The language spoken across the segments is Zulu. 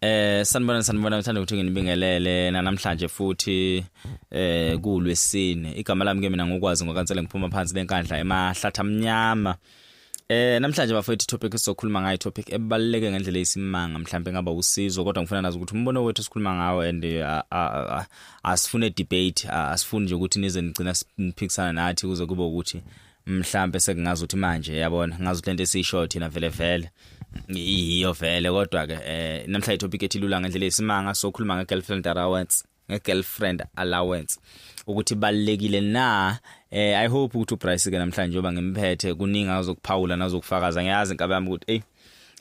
Eh sanibona sanibona ngithanda ukuthi nginibingelele namhlanje futhi eh kulwesine igama lami ke mina ngokwazi ngokansela ngiphuma phansi lenkandla emahlatha amnyama Eh namhlanje bafowethu topic esizokhuluma ngayo topic ebaluleke ngendlela eyisimanga mhlawumbe ngaba usizo kodwa ngifuna nazi ukuthi umbono wethu sikhuluma ngawo and eh, asifune debate asifuni nje ukuthi nize nigcina siphikisana nathi kuze kube ukuthi mhlambe sekungazi ukuthi manje yabona ngazi ukuthi lento esisho thina vele vele yiyo vele kodwa ke eh namhla itopic ethi lula ngendlela esimanga sokhuluma nge girlfriend allowance nge girlfriend allowance ukuthi balekile na eh i hope ukuthi uBryce ke namhlanje oba ngimphethe kuningi azokuphawula nazokufakaza ngiyazi inkabe yami ukuthi hey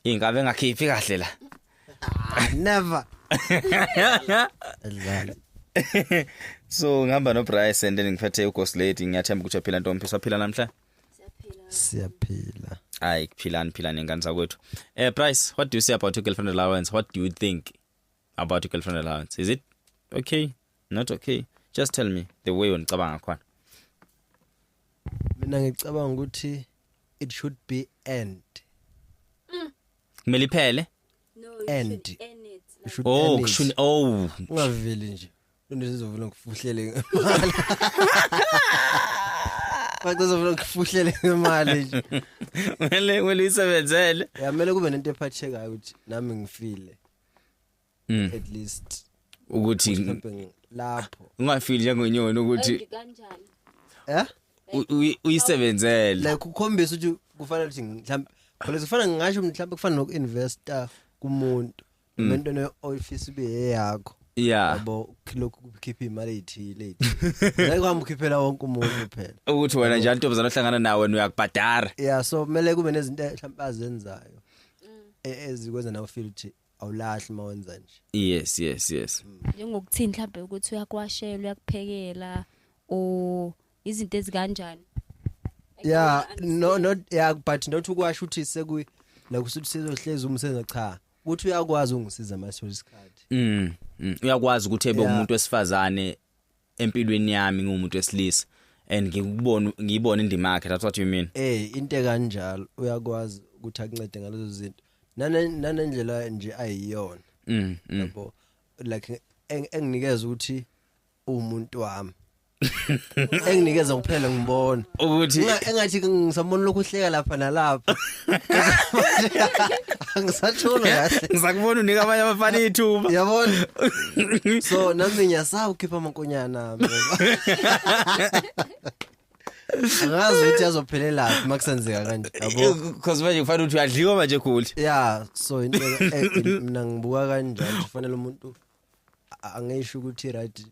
inkabe ngakhiphi kahle la never Adlala. so ngihamba noBryce and then ngiphethe uGhost Lady ngiyathemba ukuthi uyaphila ntombi saphila namhla siyaphila hayi kuphilani philani ngane zakwethu eh Bryce what do you say about your girlfriend allowance what do you think about your girlfriend allowance is it okay not okay just tell me the way unicabanga ngakhona mina ngicabanga ukuthi it should be end kumele iphele No, you End. should end it. You should oh end it. kushuni oh ungaveli nje into sizovela ngikufuhlele ngemali Bacozovela ngikufuhlele ngemali nje kumele kumele uyisebenzele yamele kube nento ephathekayo ukuthi nami ngifile mm. at least ukuthi lapho ungafili njengenyoni ukuthi kanjani eh uyisebenzele like ukhombisa ukuthi kufanele ukuthi mhlawumbe phela kufanele ngisho mhlawumbe kufanele nokuinvesta kumuntu mm. into ne office be yakho yeah yabo lokhu kukhipha imali ethile ngeke kwamkhiphela wonke umuntu phela ukuthi wena njalo ntombazana ohlangana nawe wena uyakubhadara yeah so kumele kube nezinto mhlawumbe azenzayo mm. e-, ezikwenza nawe feel ukuthi awulahli mawenza nje yes yes yes njengokuthini mhlambe ukuthi uyakwashela uyakuphekela o izinto ezikanjani yeah no not yeah but not ukwasho ukuthi seku la kusuthi sizohlezi umsebenzi cha ukuthi uyakwazi ungisiza masithola isikhathi mm, mm. uyakwazi ukuthi ebe umuntu wesifazane empilweni yami ngumuntu wesilisa and ngikubona ngiyibona indima yakhe that's what you mean eh into kanjalo uyakwazi ukuthi akuncede ngalezo zinto nanendlela nje ayiyona mm, mm. yabo like enginikeza ukuthi umuntu wami enginikeza kuphela ngibona ukuthi engathi ngisabona lokhu hleka lapha nalapha angisasholo kahle ngisakubona unika abanye abafana ithuba yabona so nami ngiyasawu khipha amankonyana mina angazi ukuthi yazophelelaphi uma kusenzeka kanje yabo because manje kufanele ukuthi uyadliwa manje goli ya so into e- e- mina ngibuka kanjalo nje kufanele umuntu a- angisho ukuthi right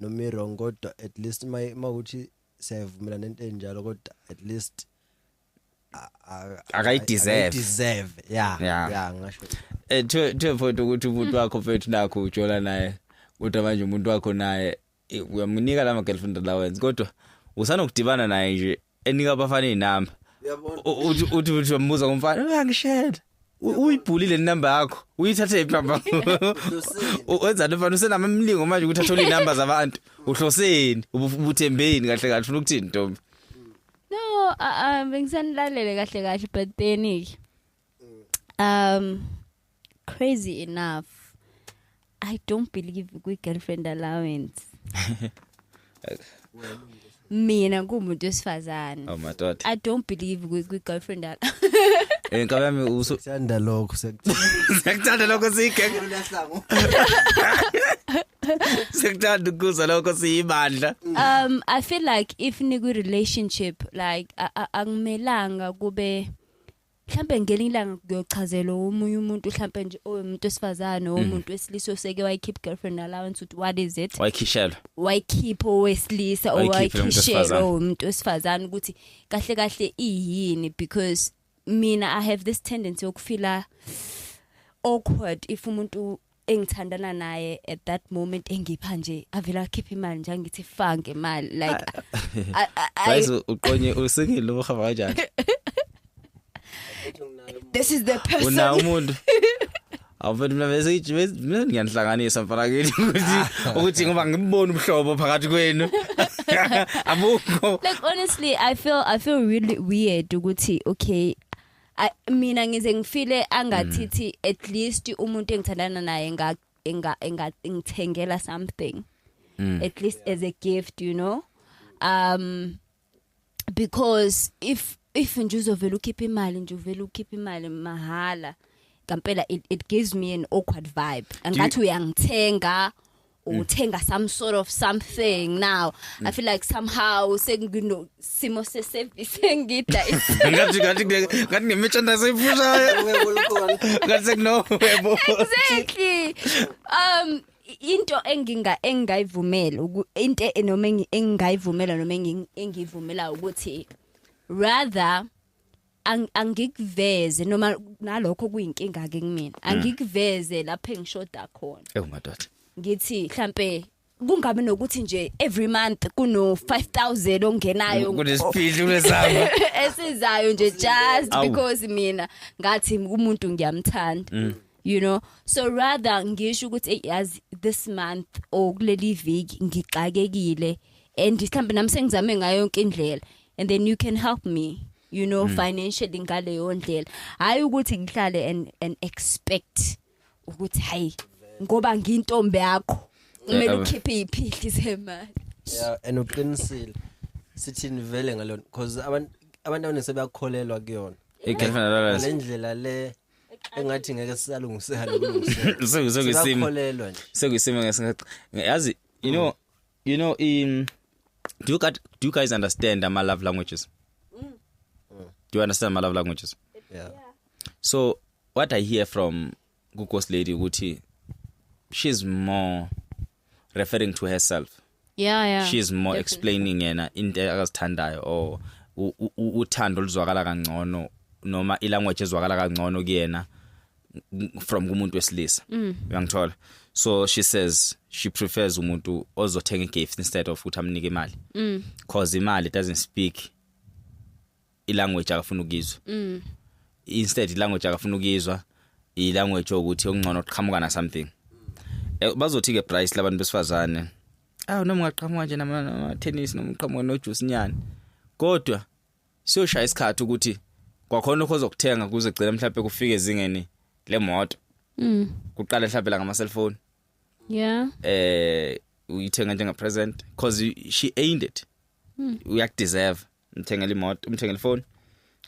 noma i-wrong kodwa at least uma uma ukuthi siyayivumelana into enjalo kodwa at least akayideserve deserve yeah Yeah. yeah ngasho Eh, to to a point ukuthi umuntu wakho mfethu nakho ujola naye kodwa manje umuntu wakho naye eh, uyamunika lama girlfriend allowance kodwa usanokudibana naye nje enika abafana inamba yabona uthi uthi uthi umbuza ngomfana uyangishela uyibhulile inamba yakho uyithathe iphi namba wenzani mfana usenama mlingo manje ukuthi athole inamba zabantu uhloseni ubuthembeni kahle kahle ufuna ukuthini ntombi no um bengisanilalele kahle kahle but then um crazy enough I don't believe kwi girlfriend allowance. Mina kumuntu wesifazane. Oh my god. I don't believe kwi girlfriend allowance. Eh ngaba yami usu sithanda lokho sekuthanda lokho sike. Sekuthanda ukuza lokho siyibandla. Um I feel like if nikwi relationship like akumelanga kube mhlampe ngelinye ilanga kuyochazelwa omunye umuntu mhlampe nje omuntu wesifazane mhm. omuntu wesilisa oseke wayikhipha girlfriend allowance ukuthi what is it wayikhishelwa wayikhipha owesilisa owayikhishelwa umuntu wesifazane ukuthi kahle kahle iyini because mina i have this tendency yokufila awkward if umuntu engithandana naye at that moment engipha nje avela akhipha imali nje angithi fange imali like guys uqonye usingile uhamba kanjani this is the person una umuntu awufethu mina bese ithi mina ngiyanhlanganisa mfana kithi ukuthi ukuthi ngoba ngibona ubuhlobo phakathi kwenu abukho like honestly i feel i feel really weird ukuthi okay Ay, mina ngize ngifile angathithi at least umuntu engithandana naye nga enga enga ngithengela something Mm. at least as a gift you know um because if if nje uzovela ukhipha imali nje uvela ukhipha imali mahala ngampela it, it gives me an awkward vibe angathi uyangithenga uthenga some sort of something now i feel like somehow sengino simo se service engidla ngathi ngathi ngathi ngemechandise iphushaya ngathi sekuno webo exactly um into enginga engayivumela into enoma engayivumela noma engiyivumela ukuthi rather ang- angikuveze noma nalokho kuyinkinga ke kumina angikuveze lapho engishoda khona ewu madoda ngithi mhlambe kungabe nokuthi nje every month kuno 5000 ongenayo kunesiphithi kulesamba esizayo nje just Awu. because mina ngathi umuntu ngiyamthanda you know so rather ngisho ukuthi yazi this month or kuleli viki ngixakekile and mhlambe nami sengizame ngayo yonke indlela and then you can help me you know mm. financially ngaleyo ndlela hayi ukuthi ngihlale and and expect ukuthi hayi ngoba ngintombi yakho kumele ukhiphe iphihli semali yeah and uqinisile sithini vele ngalona because abantu abantu abaningi sebakholelwa kuyona igirlfriend always lendlela le engathi ngeke sisalungiseka lokulungiseka sekusimo sikholelwa nje sekusimo ngesingathi yazi you know you know in do you, got, do you guys understand ama love languages mm. do you understand my love languages yeah so what i hear from ghost lady ukuthi she's more referring to herself yeah yeah she's more Definitely. explaining yena into akazithandayo or u- u- u- uthando oluzwakala kangcono noma ilanguage ezwakala kangcono kuyena n- from kumuntu wesilisa Mm. uyangithola so she says she prefers umuntu ozothenga igift instead of ukuthi amnike imali Mm. cause imali doesn't speak ilanguage akafuna ukizwa mm. instead ilanguage akafuna ukizwa ilanguage ukuthi okungcono uqhamuka na something eh, bazothi ke price labantu besifazane awu noma ungaqhamuka nje nama tennis noma uqhamuka no juice nyani kodwa siyoshaya isikhathi ukuthi kwakhona lokho ozokuthenga kuze gcina mhlawumbe kufike ezingeni lemoto mm kuqala mhlawumbe la ngama cellphone yeah eh uyithenga njenga present because she aimed it mm. uyakudeserve umthengela imoto umthengela ifoni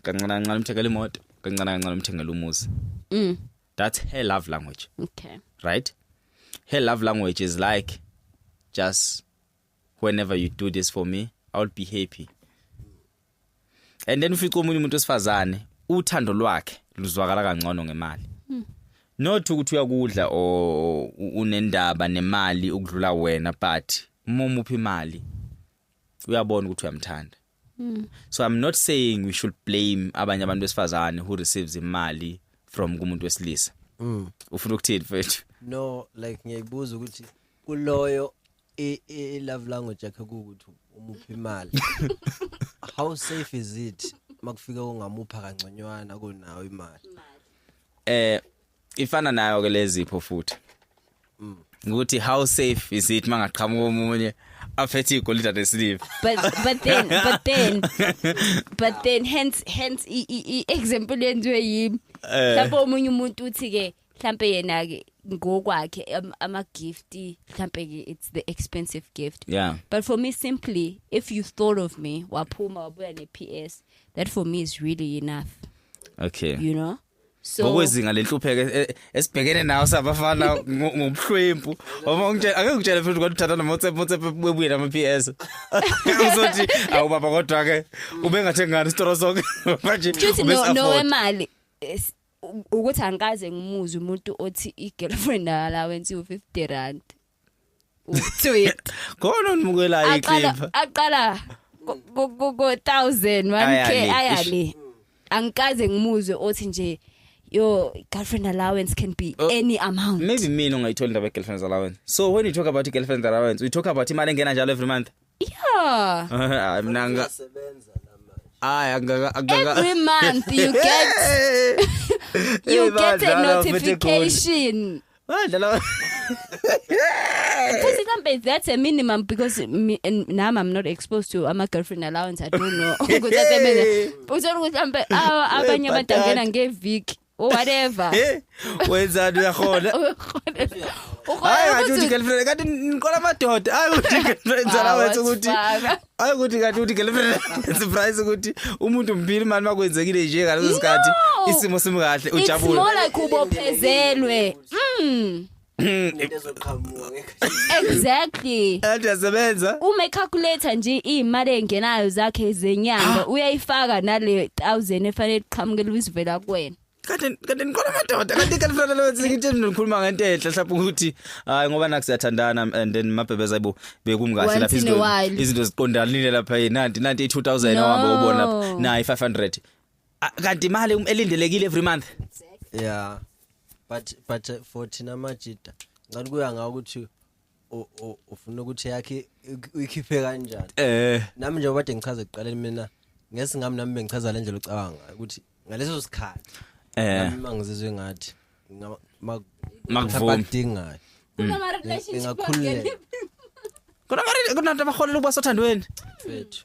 kancane kancane umthengela imoto kancane kancane umthengela umuzi mm that's her love language okay right her love language is like just whenever you do this for me i'll be happy and then ufica omunye umuntu osifazane uthando lwakhe luzwakala kangcono ngemali hmm. not ukuthi uyakudla o unendaba nemali ukudlula wena but uma umuphi imali uyabona ukuthi uyamthanda mm. so i'm not saying we should blame abanye abantu besifazane who receives imali from kumuntu wesilisa mm. ufuna ukuthini mfethu no like ngiyayibuza ukuthi kuloyo i, i love language yakhe ukuthi umuphi imali how safe is it makufika ungamupha kangconywana kunawo imali eh ifana nayo ke lezipho futhi ukuthi how safe is it mangaqhamuka omunye aphethe igolide anesiliva but but then but then but then hence hence i, i, i example yenziwe yimi Eh. mhlawumbe omunye umuntu uthi ke mhlawumbe yena ke ngokwakhe am- ama gift mhlawumbe ke it's the expensive gift yeah but for me simply if you thought of me waphuma wabuya ne PS that for me is really enough okay you know so ngokwezinga lenhlupheko e- e- esibhekene nawo sabafana ngo- ngobuhlwempu uma ungitshela ake ngitshele futhi ukuthi uthatha nomotsepe motsepe webuye nama PS uzothi awu baba kodwa ke ubengathengani isitoro sonke manje Just no ubesi-afford. no wemali Yes, u- ukuthi angikaze ngimuze umuntu othi i girlfriend allowance u 50 rand tweet khona unimukelayo aqala iqembu aqala ku- ku- ku ku 1000 1k Ayale. ayale angikaze ngimuzwe othi nje your girlfriend allowance can be Oh. any amount maybe mina ungayithola indaba ye-girlfriend's allowance so when you talk about i-girlfriend's allowance we talk about imali engena njalo every month Yeah. mina nga Uyasebenza la manje. hayi angaka angaka Every month you get you Hey, get a badlala futhi eGoli. notification. badlala Because somebody that's a minimum because me, and now I'm not exposed to ama girlfriend allowance I don't know. Ukuthi asebenza. Uzolo ukuthi mbe abanye abantu angena ngeviki. or whatever Eh, wenzani uyakhona? Hayi ngathi uthi girlfriend kanti niqola amadoda. Hayi uthi girlfriend zala Wow, wethu ukuthi wasifaka. hayi ukuthi kanti uthi girlfriend surprise ukuthi umuntu mpili mani makwenzekile nje ngaleso sikhathi No. isimo simkahle ujabule. It's more like ubophezelwe. Mm. into ezoqhamuka ngeke exactly and yasebenza uma ecalculator nje imali engenayo zakhe zenyanga uyayifaka nale 1000 efanele iqhamukele uzivela kuwena kanti kanti nikhona madoda kanti kanti mfana lo ngithi nikhuluma ngento enhle mhlawumbe ukuthi hayi ngoba naku siyathandana and then mabhebeza ibo bekumkahle Once lapha in a izinto while. izinto ziqondanile lapha yini nanti nanti i2000 No. owabo ubona nayi 500 Ah, kanti imali um- elindelekile every month yeah but but uh, for thina majita ngathi kuya ngawo ukuthi u- u- ufuna ukuthi yakhe ik- uyikhiphe kanjani eh nami njengoba kade ngichaza ekuqaleni mina ngesingami nami bengichaza le ndlela ocabanga ngayo ukuthi ngaleso sikhathi eh nami uma ngizizwe ngathi ngama- ma- Makuvumi. abakudingayo Kunama relationship Ingakhululeka. akekho. kunamari kunantu abaholela ukuba sothandweni mfethu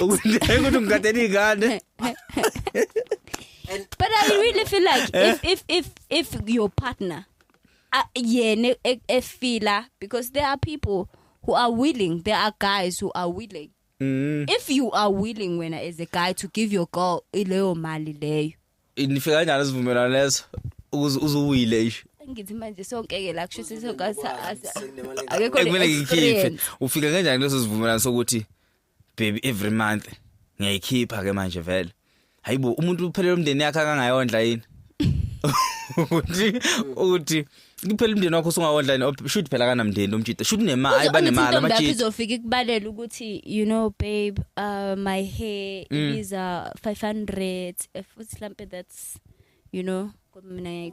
ukuthi ukuthi ngigadela izingane but i really feel like eh? if if if if your partner uh, yena e, efila because there are people who are willing there are guys who are willing mm. if you are willing wena as a guy to give your girl leyo mali leyo nifika kanjani sivumelana leso ukuze uzuwile isho ngithi manje sonke ke la kusho sesokasa akekho le experience ufika kanjani leso sivumelana sokuthi baby every month ngiyayikhipha ke manje vele hayibo umuntu uphelele umndeni yakhe akangayondla yini ukuthi ukuthi kuphela umndeni wakho usungawondla yini oh, shoot phela kanamndeni umjita shoot nemali ayi banemali amajita izofika ikubalela ukuthi you know babe uh, my hair mm. is uh, 500 futhi mhlambe that's you know mina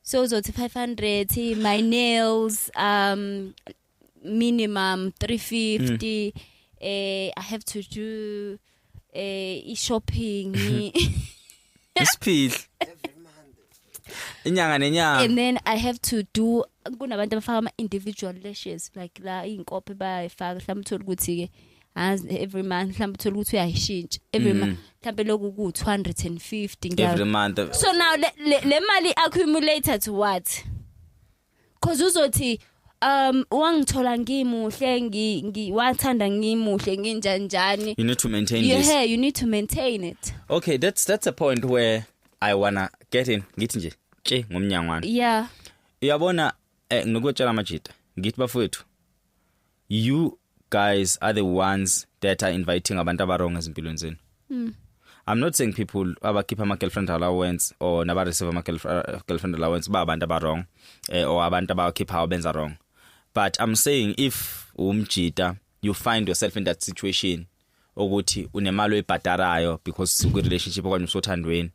so uzothi 500 my nails um minimum 350 mm. eh i have to do eh i shopping isiphihli inyanga nenyanga and then i have to do kunabantu abafaka ama individual lashes like la inkophe bayifaka mhlawumbe uthola ukuthi ke as every month mhlawumbe uthola ukuthi uyayishintsha every mm. month mhlawumbe lokhu ku 250 ngiyazi every month so now le, le, le mali accumulated to what cause uzothi um wangithola ngimuhle ngi, ngi wathanda ngimuhle nginjanjani you need to maintain you this yeah you need to maintain it okay that's that's a point where i wanna get in ngithi nje ke ngomnyangwana yeah uyabona eh ngikutshela amajita ngithi bafowethu you guys are the ones that are inviting abantu abarong ezimpilweni zenu mm. i'm not saying people abakhipha ama girlfriend allowance or naba receive ama uh, girlfriend allowance ba abantu abarong eh, or abantu abakhipha benza wrong but i'm saying if umjita you find yourself in that situation ukuthi unemali oyibhadarayo because kwi relationship okanye usothandweni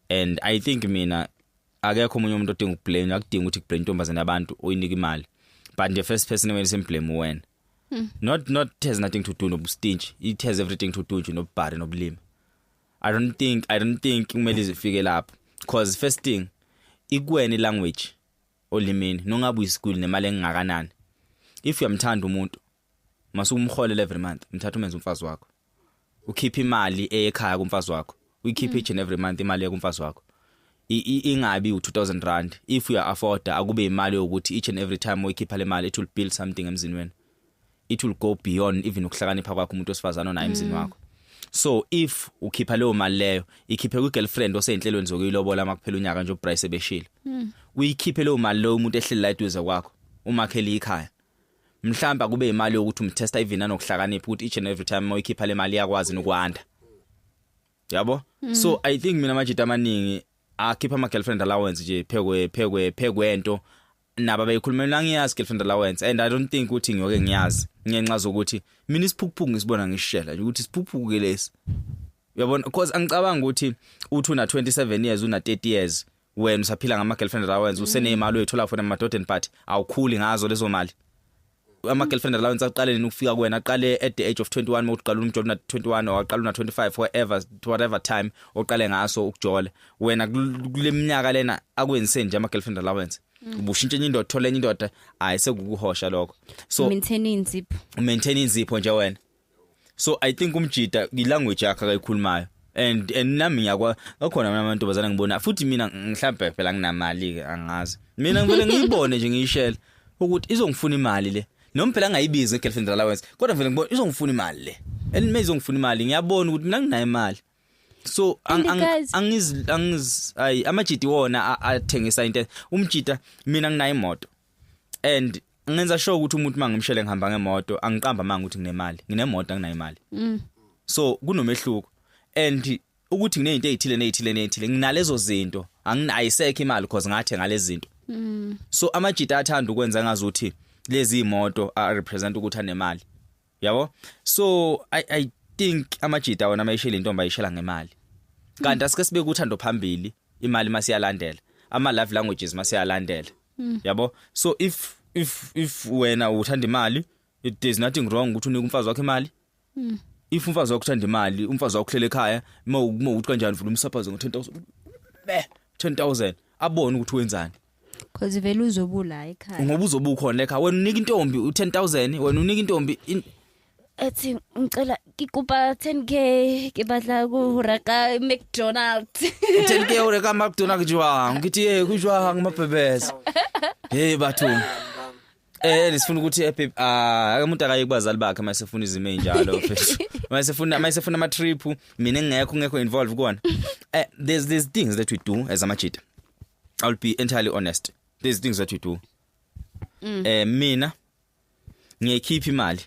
and i think mina akekho omunye umuntu odinga ukublame akudinga ukuthi kublame intombazane yabantu uyinika imali but the first person when simblame wena hmm. not not has nothing to do nobustinge it has everything to do nje nobubhari nobulima i don't think i don't think kumele izifike lapho because first thing ikweni language olimini nongabe uyisikuli nemali engakanani if uyamthanda umuntu mase umholele every month mthatha umenze umfazi wakho ukhipha imali ekhaya kumfazi wakho uyikhipha each and every month imali kumfazi wakho ingabi u2000 rand if you afford akube imali yokuthi each and every time uyikhipha le mali it will build something emzini wenu it will go beyond even ukuhlakanipha kwakho umuntu osifazana onaye emzini mm. wakho so if ukhipha leyo mali leyo ikhiphe kwi girlfriend osezinhlelweni zokuyilobola makuphela unyaka nje uBryce ebeshile mm. uyikhiphe leyo mali leyo umuntu ehleli la eduze kwakho umakhele ikhaya mhlawumbe akube imali yokuthi umtesta even anokuhlakanipha ukuthi each and every time moyikhipha le mali yakwazi nokwanda yabo mm. so i think mina majita amaningi akhipha ama girlfriend allowance nje phekwe phekwe phekwento naba beyikhulumela ngiyazi girlfriend allowance and i don't think ukuthi ngiyoke ngiyazi ngenxa zokuthi mina isiphukuphuku ngisibona ngishela nje ukuthi isiphukuphuku ke lesi uyabona because angicabanga ukuthi uthi una 27 years una 30 years wena usaphila ngama girlfriend allowance usenemali oyithola for emadodeni party awukhuli ngazo lezo mali ama girlfriend allowance aqale nini ukufika kuwena aqale at the age of 21 uma uqala umjola na 21 or aqala na 25 forever whatever time oqale ngaso ukujola wena kuleminyaka lena akwenzise nje ama girlfriend allowance mm. ubushintshe enye indoda thola enye indoda hayi sekukuhosha lokho so maintain inzipho maintain inzipho nje wena so i think umjita i language yakhe akayikhulumayo and and nami ngiyakwa akhona mina amantombazana ngibona futhi mina mhlawumbe phela nginamali ke angazi mina ngivele ngiyibone nje ngiyishela ukuthi izongifuna imali le noma phela angayibizi ngegirlfriend allowance kodwa vele ngibona izongifuna imali le and mina izongifuna imali ngiyabona ukuthi mina nginayo imali so angiz angiz ay amajiti wona athengisa into umjita mina nginayo imoto and ngenza sure ukuthi umuntu mangimshele ngihamba ngemoto angiqamba manga ukuthi nginemali nginemoto anginayo imali mm. so kunomehluko and ukuthi nginezinto ezithile nezithile nezithile nginalezo zinto anginayisekho imali because ngathe ngalezi zinto mm. so amajita athanda ukwenza ngazuthi lezi imoto a represent ukuthi anemali yabo so i i think amajita wona mayishela intombi ayishela ngemali kanti asike sibe kuthando phambili imali masiyalandela ama love languages masiyalandela hmm. yabo so if if if wena uthanda imali it is nothing wrong ukuthi unike umfazi wakhe imali hmm. if umfazi wakho uthanda imali umfazi wakho uhlele ekhaya uma uma uthi kanjani vula umsaphazo ngo 10000 be 10000 abone ukuthi wenzani Cause vele uzobula ekhaya. Ngoba uzobukhona ekhaya. Wena unika intombi u10000, wena unika intombi ethi ngicela ngikupa 10k ngibadla ku Raka McDonald 10k Raka McDonald jwang ngithi hey kujwang mabhebeza hey bathu Eh lisifuna ukuthi epe ah umuntu akaye kubazali bakhe uma sefuna izimo enjalo mfethu. Uma sefuna uma sefuna ama trip mina ngingekho ngekho involved kuona. Eh there's there's things that we do as amajita. I'll be entirely honest. There's things that we do. Mm. Eh mina ngiyikhipha imali.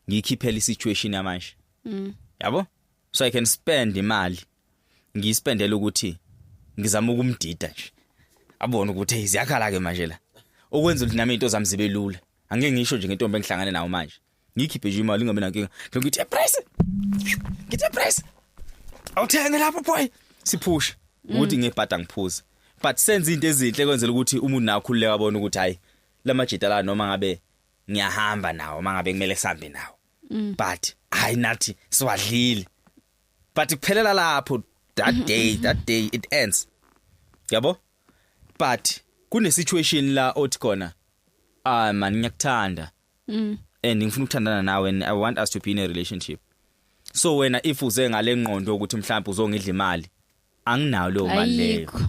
Ngiyikhiphela isituation yamanje. Mm. Yabo? so i can spend imali ngiyispendela ukuthi ngizama ukumdida nje abone ukuthi hey ziyakhala ke manje la okwenza ukuthi nami into zami zibe lula angeke ngisho nje ngentombi engihlangane nayo manje ngikhiphe nje imali ingabe nankinga ngithi a price ngithi a price awuthenge lapho boy siphusha ukuthi ngebhada ngiphuza but senza into ezinhle kwenzela ukuthi umuntu nawe khululeka abone ukuthi hayi lamajita la noma ngabe ngiyahamba nawo mangabe kumele sambe nawo mm. but hayi nathi siwadlile but kuphelela lapho that mm-hmm, day mm-hmm. that day it ends yabo but kune situation la othi khona ah man ngiyakuthanda mm. and ngifuna ukuthandana nawe and i want us to be in a relationship so wena if uze ngale ngqondo ukuthi mhlawumbe uzongidla imali anginayo leyo mali leyo ayikho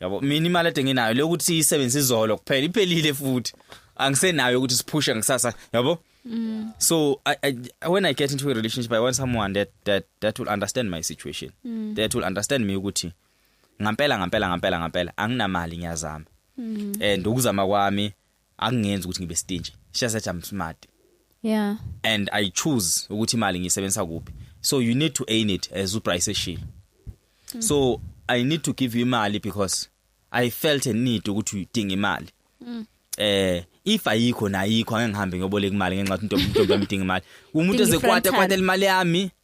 yabo mina imali ade nginayo le ukuthi isebenze izolo kuphela iphelile futhi angisenayo ukuthi siphushe ngisasa yabo Mm. so I, I, when i get into a relationship i want someone that that that will understand my situation Mm. that will understand me ukuthi ngampela ngampela ngampela ngampela anginamali ngiyazama Mm. and ukuzama kwami akungenzi ukuthi ngibe stingy she said i'm smart yeah and i choose ukuthi imali ngisebenzisa kuphi so you need to aim it as uprice eshilo mm. so i need to give you imali because i felt a need ukuthi udinga imali mm. eh if ayikho nayikho angihambe ngiyoboleka imali ngenxa ukuthi intombi intombi yamdinga imali umuntu ezekwata kwata imali yami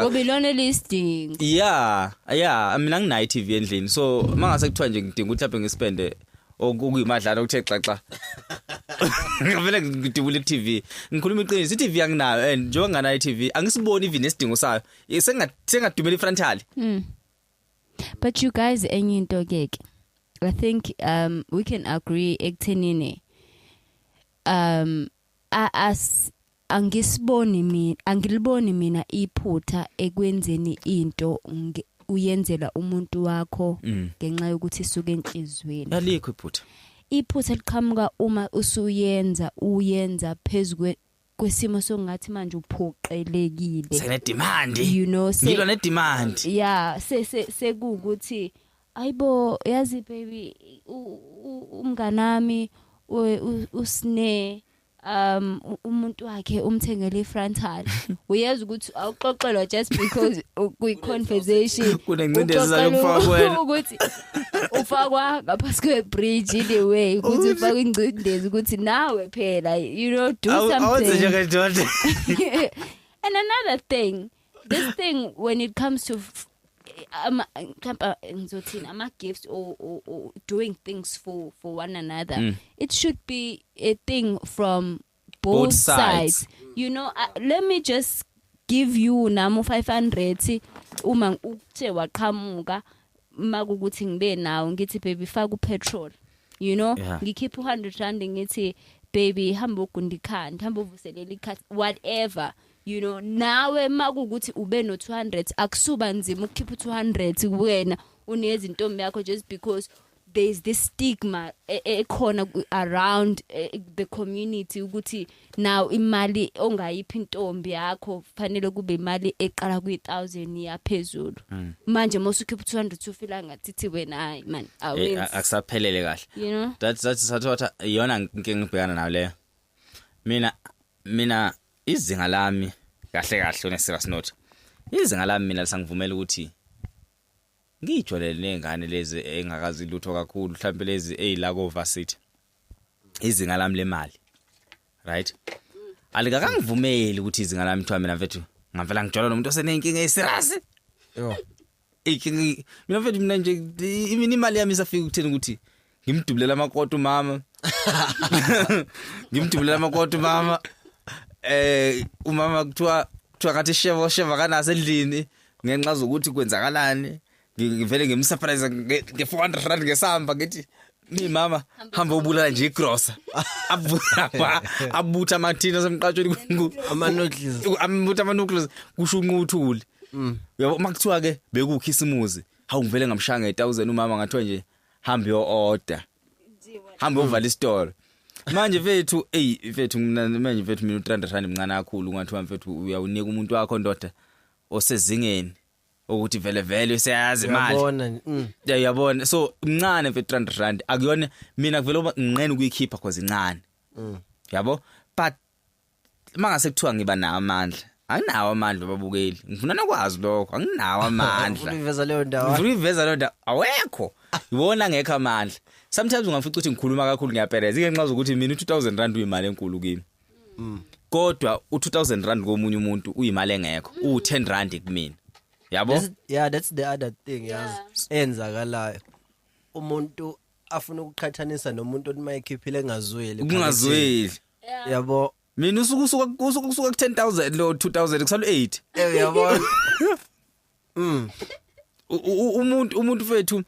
ngoba ilona elisidingo yeah yeah mina nginayi TV endlini so mangase kuthiwa nje ngidinga ukuthi laphe ngispende okuyimadlana okuthe xaxa ngavele ngidibule iTV ngikhuluma iqiniso iTV anginayo and njengoba nganayo iTV angisiboni even isidingo sayo sengadumela ifrontali hmm. but you guys enye into ke ke i think um we can agree ekuthenini um as angisiboni mina angiliboni mina iphutha ekwenzeni into uyenzela umuntu wakho mm. ngenxa yokuthi isuke enhlizweni alikho iphutha iphutha liqhamuka uma usuyenza uyenza phezulu kwesimo sokungathi manje uphoqelekile sene demand you know ngilwa ne demand yeah se se sekukuthi Ayibo yazi baby umnganami usne um umuntu wakhe umthengele ifrontal uyeza ukuthi awuxoxelwa just because kuyi conversation kunencindezi zakufakwa ukuthi ufakwa ngaphansi kwe bridge in the way ukuthi ufaka ingcindezi ukuthi nawe phela you know do something awenze njengendoda and another thing this thing when it comes to ama mhlawumbe ngizothini ama gifts or, or, or doing things for for one another mm. it should be a thing from both, both sides. sides you know uh, let me just give you nami 500 uma ukuthe waqhamuka makukuthi ngibe nawo ngithi baby faka upetrol you know yeah. ngikhipha u100 rand ngithi baby hamba ugundikhanda hamba uvuselela ikhasi whatever you know nawe makukuthi ube no 200 akusuba nzima ukukhipha u 200 kuwena unezi ntombi yakho just because there is this stigma e, e, ekhona around e, the community ukuthi now imali ongayiphi intombi yakho fanele kube imali eqala kwi 1000 yaphezulu mm. manje mosukhipha 200 ufila ngathi thi wena hayi man awezi akusaphelele kahle you know that's that's what iyona inkinga ngibhekana nayo leyo mina mina izinga lami kahle kahle une serious note izinga lami mina lisangivumela ukuthi ngijwalele nezingane lezi engakazi lutho kakhulu mhlawumbe lezi ezilako varsity izinga lami lemali right alikakangivumeli ukuthi izinga lami kuthiwa mina mfethu ngavela ngijwala nomuntu osenenkinga eserious yo Eyi mina mfethu mina nje imini imali yami isafika ukuthini ukuthi ngimdubulela amakoto mama. Ngimdubulela amakoto mama. Eh umama kuthiwa kuthiwa ngathi sheva sheva kanase endlini ngenxa zokuthi kwenzakalani ngivele ngimsurprise nge 400 rand ngesamba ngithi mi mama hamba ubulala nje igrosa abutha abutha amathina semqatshweni amanoodles amutha amanoodles kusho unquthuli mm. yabo uma kuthiwa ke bekukhisimuzi hawu ngivele ngamshaya nge 1000 umama ngathiwa nje hamba yo order hamba uvala isitolo manje mfethu ey mfethu mina manje mfethu mina u300 rand mncane kakhulu ngathiwa mfethu uyawunika umuntu wakho ndoda osezingeni ukuthi vele vele useyazi imali uyabona mm. yeah uyabona so mncane mfethu 300 rand akuyona mina kuvela uba nginqena ukuyikhipha cause incane mm. yabo but mangase kuthiwa ngiba nawo amandla anginawo amandla babukeli ngifuna nokwazi lokho anginawo amandla uveza leyo ndawo ngifuna uveza leyo ndawo awekho yibona ngekho amandla sometimes ungafica ukuthi ngikhuluma kakhulu ngiyapereza ngenxa zokuthi mina 2000 rand uyimali enkulu kimi mm. kodwa u2000 rand komunye umuntu uyimali engekho mm. u10 rand kumina yabo that's, yeah that's the other thing yazi yeah. enzakalayo umuntu afuna ukuqhathanisa nomuntu othi mayekhiphile engazweli kungazweli yabo mina usuku usuka usuka usuka ku 10000 lo 2000 kusalo 8 eh yabona mm umuntu umuntu fethu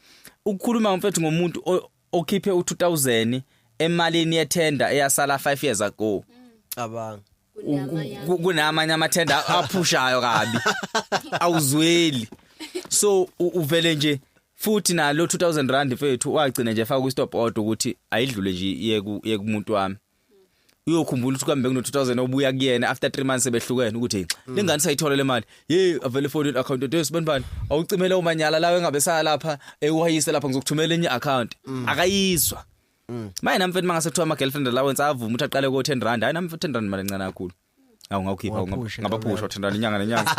ukukhuluma mfethu ngomuntu ukhiphe u2000 emalini yethenda eyasala 5 years ago cabanga kunamanye amathenda aphushayo kabi awuzweli so uvele nje futhi nalo 2000 rand mfethu wagcina nje faka ku stop order ukuthi ayidlule nje yeku yekumuntu wami uyokhumbula ukuthi kambe kuno 2000 obuya kuyena after 3 months sebehlukene ukuthi mm. lengane sayithola le mali hey avele phone account details banibani awucimela umanyala lawe engabe saya lapha ewayise lapha ngizokuthumela enye account mm. akayizwa mm. maye namfethu mangase kuthiwa ama girlfriend allowance avuma ukuthi aqale ko 10 rand hayi namfethu 10 rand mali encane kakhulu awu ngawukhipha Waphusha, ngabaphusha uthandana inyanga nenyanga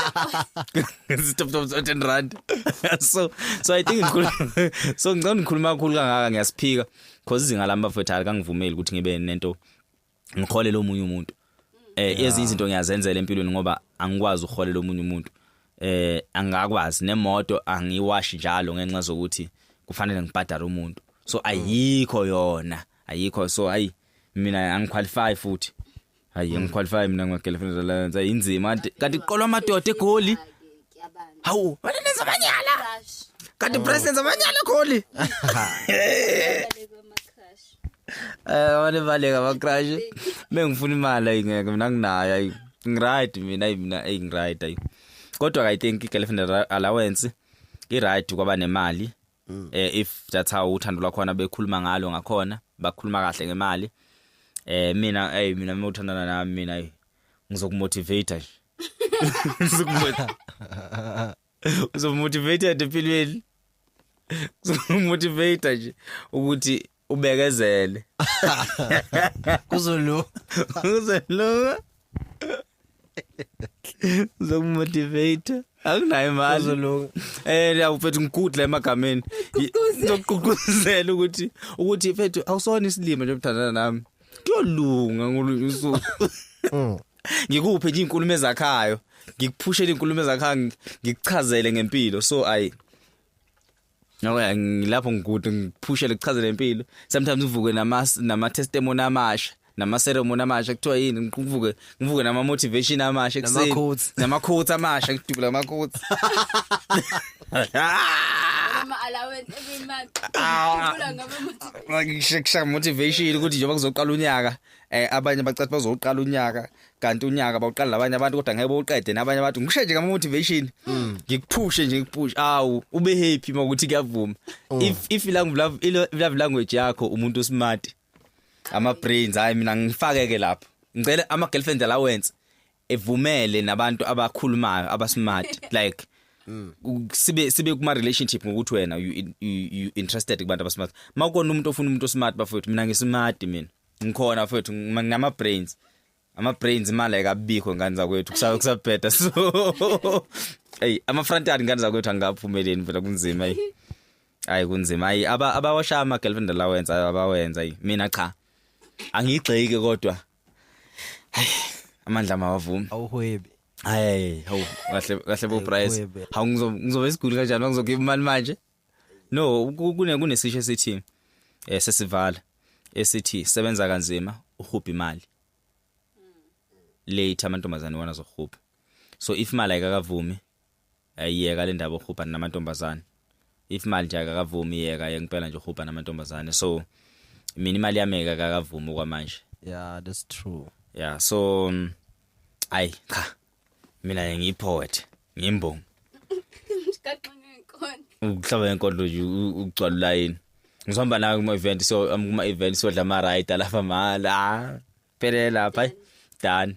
stop stop stop 10 rand so so i think ngikhuluma so ngicela ngikhuluma kakhulu kangaka ngiyasiphika because izinga lami bafethu alikangivumeli ukuthi ngibe nento ngikhole lo munye umuntu eh ezinye izinto ngiyazenzela empilweni ngoba angikwazi ukhole lo munye umuntu eh angakwazi nemoto angiwashi njalo ngenxa zokuthi kufanele ngibhadare umuntu so ayikho yona ayikho so hayi mina angiqualify futhi hayi ngiqualify mina ngimagirlfriend alliance hayi inzima kanti kanti kuqolwa amadoda egoli hawu wena nenza amanyala kanti press nenza amanyala egoli eh wale baleka ba crash bengifuna imali ayingeke mina nginayo ayi ngiright mina ayi mina ayi ngiright ayi kodwa i think girlfriend allowance i right kwaba nemali mm. eh if that's how uthando lwakhona bekhuluma ngalo ngakhona bakhuluma kahle ngemali eh mina hey mina uma uthandana nami mina ngizokumotivate nje ngizokumotivate uzomotivate empilweni uzomotivate nje ukuthi ubekezele kuzolunga kuzolunga zokumotivate akunayo imali kuzolunga eh ngiyakufethu ngigudla emagameni ngizogqugquzela ukuthi ukuthi mfethu awusona isilima nje mthandana nami kuyolunga ngolunye usuku mm. ngikuphe nje inkulumo ezakhayo ngikuphushele inkulumo ezakhayo ngikuchazele ngempilo so ayi No eh, ngilapho ngikude ngiphushe lekuchazela impilo sometimes uvuke nama nama testimony amasha nama ceremony amasha kuthiwa yini ngivuke ngivuke nama motivation amasha ekuseni nama quotes amasha ngidubula ama quotes ama allowance every month ngidubula ngama motivation ngisheksha motivation ukuthi njengoba kuzoqala unyaka eh abanye bacathi bazoqala unyaka kanti unyaka bawuqala labanye abantu kodwa ngeke bawuqede nabanye abantu ngisho nje ngama motivation mm. ngikuphushe nje ngikuphushe awu ube happy makuthi kuyavuma mm. if if language love language yakho umuntu usmart ama brains hayi mina ngifakeke lapho ngicela ama girlfriend la wenze evumele nabantu abakhulumayo abasmart like Mm. sibe sibe kuma relationship ngokuthi wena you, you, you interested kubantu abasmart makona umuntu ofuna umuntu osmart bafowethu mina ngismart mina ngikhona mfethu nginama brains ama brains imali ayikabikho ngane zakwethu kusaba kusabheda so hey ama front yard ngane zakwethu angikaphumeleni phela kunzima hey hayi kunzima hayi aba abawasha ama girlfriend allowance abawenza hey mina cha angigxeki kodwa hayi amandla mawavumi awuhwebi hayi hawu kahle kahle bo price hawu ngizobe isiguli kanjani ngizokhipha imali manje no kune kunesisho esithi eh sesivala esithi sebenza kanzima uhubha imali late amantombazane wona zohubha so if imali ayikakavumi ayiyeka le ndaba uhubha namantombazane if imali nje akakavumi yeka yengempela nje uhubha namantombazane so mina imali yami akakavumi kwamanje yeah that's true yeah so um, ayi cha mina ngiyi poet ngimbongi kaxinga inkondlo ukuhlaba inkondlo nje ukugcwala ulayini ngizihamba nawe kuma event so um, kuma event so dla ama ride lapha mala ah, phelele lapha done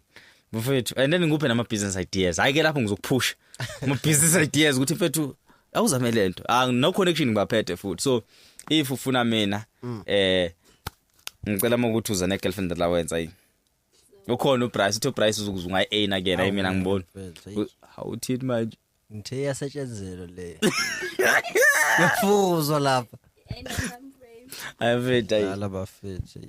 mfethu and then ngikuphe nama business ideas hayi ke lapho ngizokuphusha ama business ideas ukuthi mfethu awuzame lento ah no connection ngibaphethe futhi so if ufuna mina mm. eh ngicela ukuthi uze ne girlfriend allowance ayi ukhona uBryce uthi uBryce uzokuzunga i-A na kena mina ngibona awuthini manje ngithe yasetshenzelo le yafuzwa lapha ayafetha yala bafethe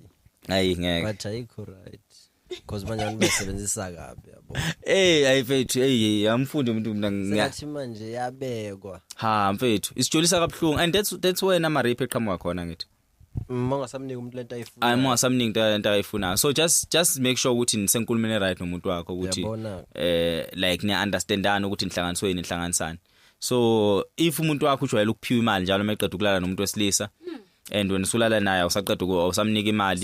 ayi ngeke but ayikho right because manje abantu basebenzisa kabi yabo hey ayifethu hey amfundi umuntu mina ngathi manje yabekwa ha mfethu isijolisa kabuhlungu and that's that's where nama rape eqhamuka khona ngithi Mongasamniki umuntu lento ayifuna. Hayi mongasamniki into lento ayifuna. So just just make sure ukuthi nisenkulumeni right nomuntu wakho ukuthi eh like ni understandana ukuthi inhlanganiso yini inhlanganisani. So if umuntu wakho ujwayele ukuphiwa imali njalo meqeda ukulala nomuntu wesilisa hmm. and wena usulala naye usaqeda usamnika imali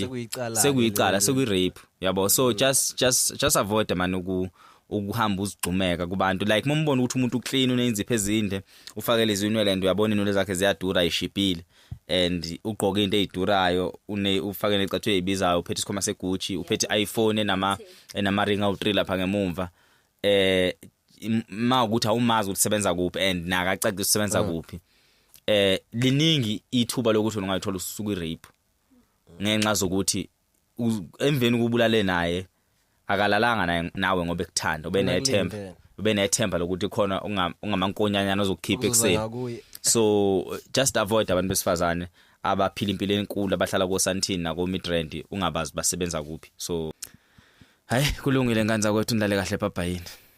sekuyicala sekuyi rape yabo so hmm. just just just avoid man uku ukuhamba uzigxumeka kubantu like mombona ukuthi umuntu uclean unenziphe ezinde ufakele izinwele and uyabona inwele zakhe ziyadura ishibhile and ugqoke into ezidurayo une ufake necathu ezibizayo uphethe isikhoma segucci uphethe iPhone enama enama ring awu3 lapha ngemumva eh ma ukuthi awumazi ukuthi sebenza kuphi and nakacacisa ukuthi sebenza mm. kuphi eh liningi ithuba lokuthi ungayithola usuku irape ngenxa zokuthi emveni kubulale naye akalalanga naye nawe ngoba ekuthanda ube nethemba ube nethemba lokuthi khona ungamankonyanyana ozokukhipha ekuseni so just avoid abantu besifazane abaphila impilo enkulu abahlala koSantini nako Midrand ungabazi basebenza kuphi so hayi kulungile nkanza kwethu ndlale kahle papa yini